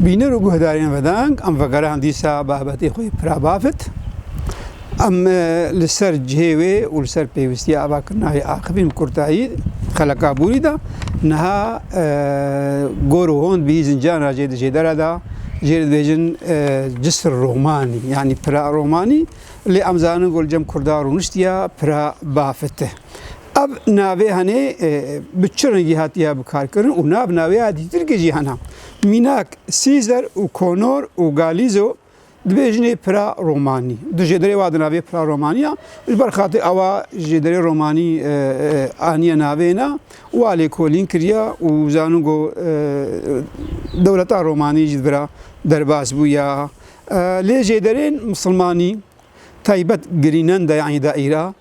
Bînir û guhdarên vedeng em vegerand dîsa babetê xwe yê pira bafit. Em li ser cihê wê û li ser pêwistiya avakirina yê aqibîn bi kurtayî xeleka bûrî da niha gor û hond bihî zinciyan ra jê di jêdera da jê li dibêjin cisr romanî yanî pira romanî lê em zanin ku li cem kurda rûniştiya pira bafit e. Ev navê henê bi çi rengî hatiye bikarkirin û nav navê ya dîtirkê jî hene. Mînak Sîzer û Konor û Galizo dibêjinê pira romanî. Di jê derê wa di navê pira romanî ya. Ji ber xatir ewa jê derê romanî aniye navê ne wa lêkolîn kiriye û zanûn ku dewleta romanî jî di vira derbas bûye. Lê jê derên misilmanî taybet girînen de yanî daîra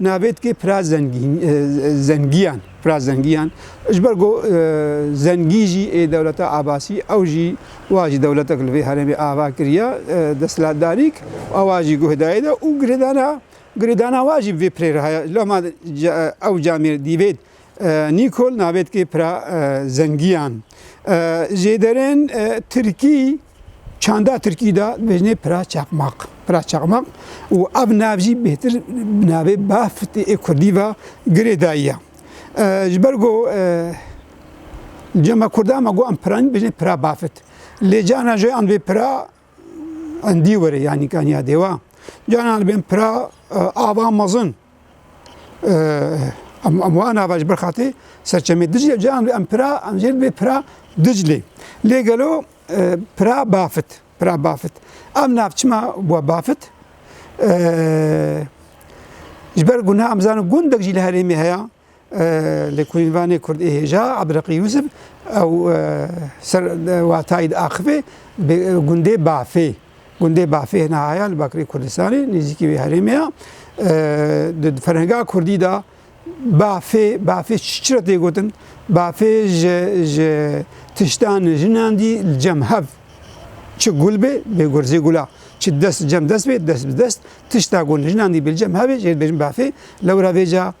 Nabêt ki pira zengiyan, pira zengiyan ji ber ku zengî jî ê dewleta Abasî ew jî wa jî dewletek li vê herêmê ava kiriye desthilatdarîk û wa jî guh dayê de û girêdana girêdana wa jî bi vê pirê re heye. Loma ew camê dîvêt Nîkol navêtkê pira zengiyan jê derên tirkî çanda tirkî da dibêjinê pira çaqmaq. Pira çaqmaq û ev nav jî bêtir bi navê bafitê ê kurdî ve girê dayiye. Ji ber ku cema kurdan me got em piranî dibêjinê pira bafit. Lê cana jê an vê pira Endî were yanî kaniya dêwa. Canan bên pira ava mezin. Em wan ava ji ber xatê serçemê Diclê canan em pira em jê bê pira Diclê. Lê gelo pira bafit pira bafit. Em nav çima bûa bafit ji ber guna em zanin gundek jî li herêmê heya Li Koyînvanê Kurd ê hêja Ebreqî Yûsif ew ser watayî di axivê bi gundê Bafê. Gundê Bafê hene haya li Bakirê Kurdistanê nêzîkî wê herêmê ya. Di ferhenga Kurdî de Bafê Bafê çi re tê gotin? Bafê ji ji tiştan jinan dî li cem hev çi gul bê bê gurzê gula çi dest cem dest bê dest bi dest tişta gul jinan dî bê cem hevê jê dibêjin bafê lewra vêca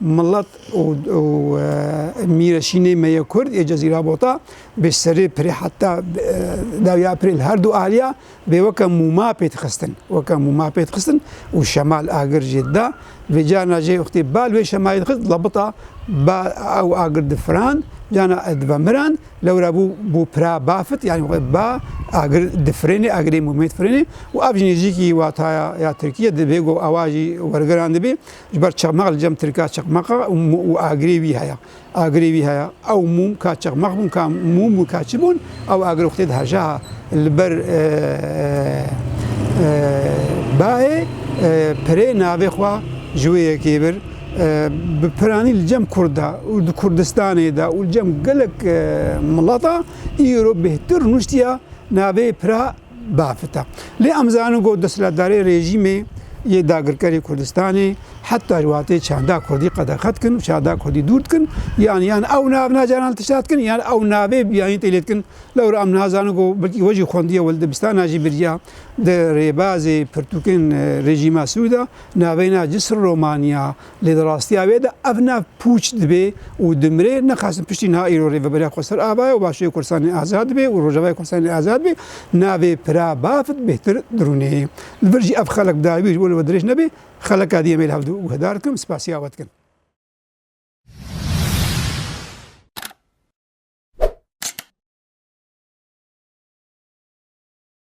Milet û mîreşînê me yê Kurd yê Cezîra Bota bi serê pirê heta dawya pirê li herdu aliya bê weke mûma pê dixistin. Weke mûma pê dixistin û şemal agir jê dida. Vê carna jê wextê bal wê şemayê dixist lebita ba ew agir difirand carna ez divemirand lewra bû bû pira bafit yanî xwe ba agir difirênê agirê mûmê difirênê û ev jî nêzîkî wataya ya tirkî ye divê ku ewa jî wergirandibê. Ji ber çeqmeq li cem tirka çeqmeq e û agirê wî heye. Agirê wî heye. Ew mûm ka çeqmeq bûn ka mûm bûn ka çi bûn ew agir wextê di hejaha li ber bayê pirê navê xwe ji wê yekê bir bi piranî li cem kurd de û di Kurdistanê de û li cem gelek milata îro bêhtir rûniştiya navê pira biafite. Lê em zanin ku desthilatdarê rejîmê yê dagirkerê Kurdistanê heta ji watê çanda Kurdî qedexe dikin û çanda Kurdî dûr dikin yan yan ew nav na caran li tişta dikin yan ew navê biyanî tê lê dikin. Lewra em niha zanin ku belkî we jî xwendiye û li dibistana jî biriya di rêbazê pirtûkên rejîma Sûda navê na Cisr Romanya, Lê di rastiya wê de ev nav pûç dibê û dimire. Nixwestin piştî niha îro Rêveberiya Koser Ava ye û Başûrê Kurdistanê azad be û Rojavayê Kurdistanê azad be. Navê Pira Bafit bêhtir dirûnê. Li vir jî ev xelek dawî ji bo li we dirêj nebe, xeleka dî em ê li hev guhdar dikim, spasiya we dikim.